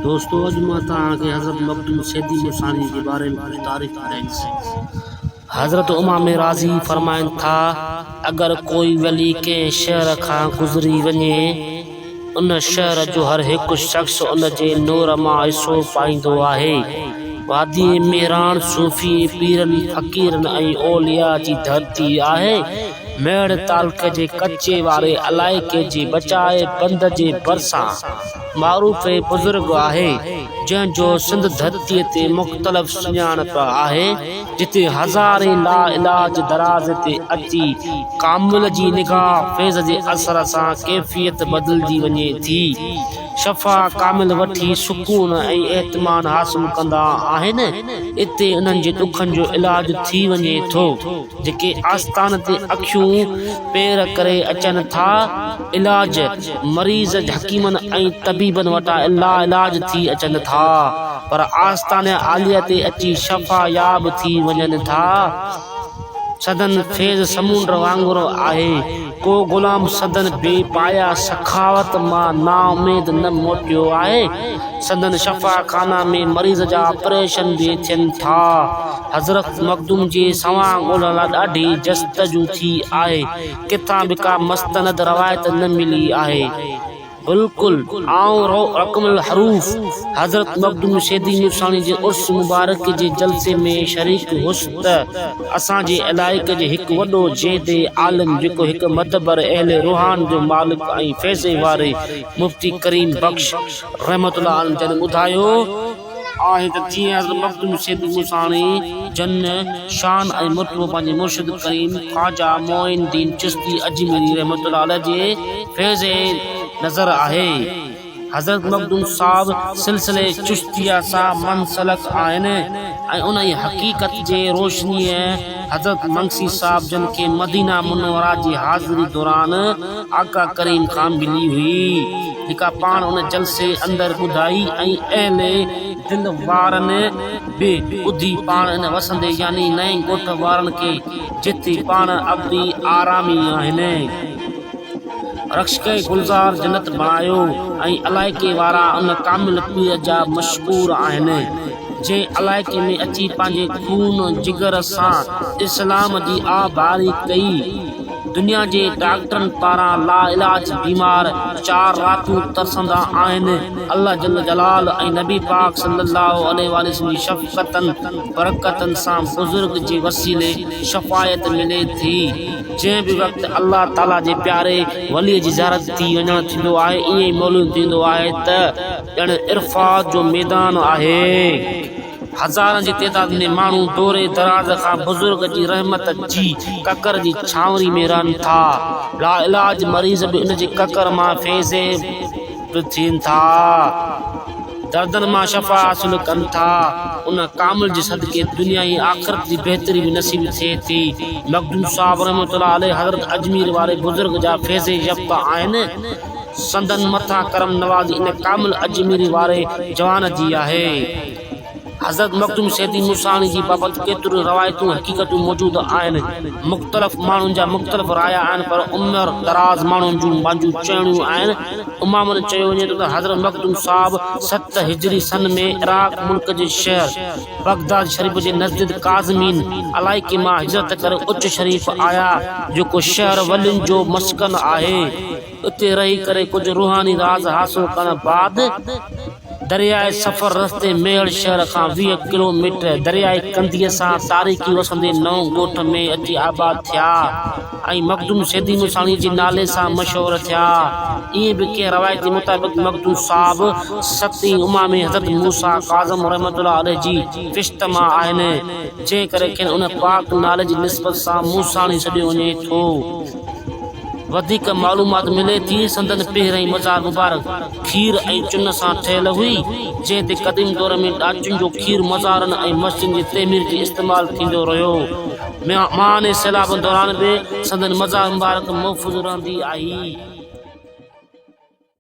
دوستو اڄ مان توهان کي حضرت مخدوم سيدي ملتاني جي باري ۾ ڪجهه تاريخ ٻڌائيندس حضرت امام راضي فرمائن ٿا اگر ڪوئي ولي ڪنهن شهر کان گذري وڃي ان شهر جو هر هڪ شخص ان جي نور مان حصو پائيندو آهي وادي ميران صوفي پيرن فقيرن ۽ اولياء جي ڌرتي آهي ميڙ تعلقي جي ڪچي واري علائقي جي بچائي بند جي ڀرسان معروف بزرگ آهي، جنهن جو سنڌ ڌرتي تي مختلف سڃاڻپ آهي، جتي هزارين لاعلاج دراز تي اچي ڪامل جي نگاهه فيض جي اثر سان ڪيفيت بدلجي وڃي ٿي، شفا ڪامل وٺي سڪون ۽ اطمينان حاصل ڪندا آهن، اتي انهن جي ڏکن جو علاج ٿي وڃي ٿو. جيڪي آستان تي اکيون پير ڪري اچن ٿا علاج مريض حڪيمن ۽ طبيبن وٽان لاعلاج ٿي اچن ٿا پر آستان عاليه تي اچي شفا ياب ٿي وڃن ٿا سندن فيض سمونڊ وانگر آهي ڪو غلام سندن بي پايا سخاوت مان نااميد نه موٽيو آهي. سندن شفاخانا ۾ مريض جا آپريشن به ٿين ٿا. حضرت مخدوم جي سوانح ڳولڻ لاء ڏاڍي جستجو ٿي آهي. ڪٿان به ڪا مستند روايت نه ملي آهي. بلڪل آئون رقم الحروف حضرت مخدوم شيدي ميرساڻي جي عرس مبارڪ جي جلسي ۾ شريڪ هيس ته اسان جي علائقي جي هڪ وڏو زيدي عالم جيڪو هڪ معتبر اهل روحان جو مالڪ ۽ فيضي واري مفتي ڪريم بخش رحمة الله عليه جن ٻڌايو آهي ته جيئن حضرت مخدوم سيد موساڻي جن شان ۽ مرتبو پنهنجي مرشد ڪريم خواجه معين الدين چشتي اجميري رحمة الله عليه جي فيض ۽ نظر آهي. حضرت مخدوم صاحب سلسله چشتيه سان منسلڪ آهن ۽ انهيء حقيقت جي روشنيء حضرت منگسي صاحب جن کي مدينه منوره جي حاضري دوران آقا ڪريم کان ملي هئي جيڪا پاڻ ان جلسي اندر ٻڌائي ۽ اهل دل وارن به ٻڌي پاڻ ان وسندي يعني نئين ڳوٺ وارن کي جتي پاڻ ابدي آرامي آهن رخشڪي گلزار جنت بڻايو ۽ علائقي وارا ان ڪامل پير جا مشڪور آهن. جنهن علائقي ۾ اچي پنهنجي خون جگر سان اسلام جي آھ باري ڪئي. دنيا جي ڊاڪٽرن پاران لاعلاج بيمار چار راتون ترسندا آهن، الله جل جلال ۽ نبي پاڪ صلي الله عليه واٰله وسلم جي شفقتن برڪتن سان بزرگ جي وسيلي شفايت ملي ٿي، جنهن به وقت الله تعالي جي پياري ولي جي زيارت ٿي وڃڻ ٿيندو آهي ائين ئي معلوم ٿيندو آهي ته. ڄڻ عرفات جو ميدان آهي، هزارن جي تعداد ۾ ماڻهو دور دراز کان بزرگ جي رحمت جي ڪڪر جي ڇانوري ۾ رهن ٿا، لاعلاج مريض به ان جي ڪڪر مان فيضيب به ٿين ٿا، دردن مان شفا حاصل ڪن ٿا، ان ڪامل جي صدقي دنيا ۽ آخرت جي بهتري به نصيب ٿئي ٿي، مخدوم صاحب رحمة الله عليه حضرت اجمير واري بزرگ جا فيض يفته آهن. سندن مٿان ڪرم نوازي ان ڪامل اجميري واري جوان جي آهي. حضرت مخدوم سيدي موساڻي جي بابت ڪيتريون روايتون حقيقتون موجود آهن. مختلف ماڻهن جا مختلف رايا آهن پر عمر دراز ماڻهن جون پنهنجون چوڻيون آهن. عمومن چيو وڃي ٿو ته حضرت مخدوم صاحب ست هجري سن ۾ عراق ملڪ جي شهر بغداد شريف جي نزديد ڪاظمين علائقي مان هجرت ڪري اچ شريف آيا جيڪو شهر ولين جو مسڪن آهي. اتي رهي ڪري ڪجهه روحاني راز حاصل ڪرڻ بعد درياهه سفر رستي ميهڙ شهر کان ويهه ڪلو ميٽر درياهه ڪنڌيء سان تاريخي وسندي نئون ڳوٺ ۾ اچي آباد ٿيا ۽ مخدوم سيدي موساڻيء جي نالي سان مشهور ٿيا. ائين به ڪنهن روايت مطابق مخدوم صاحب ستين امامي حضرت موسيٰ ڪاظم رحمة الله عليه جي پشت مان آهن، جنهن ڪري کين ان پاڪ نالي جي نسبت سان موساڻي سڏيو وڃي ٿو. وڌيڪ معلومات ملي ٿي سندن پهرئين مزار مبارڪ کير ۽ چن سان ٺهيل هئي، جنهن تي قديم دور ۾ ڏاچن جو کير مزارن ۽ مسجدن جي تعمير جي استعمال ٿيندو رهيو. ميانهاڻي سيلابن دوران به سندن مزار مبارڪ محفوظ رهندي آئي.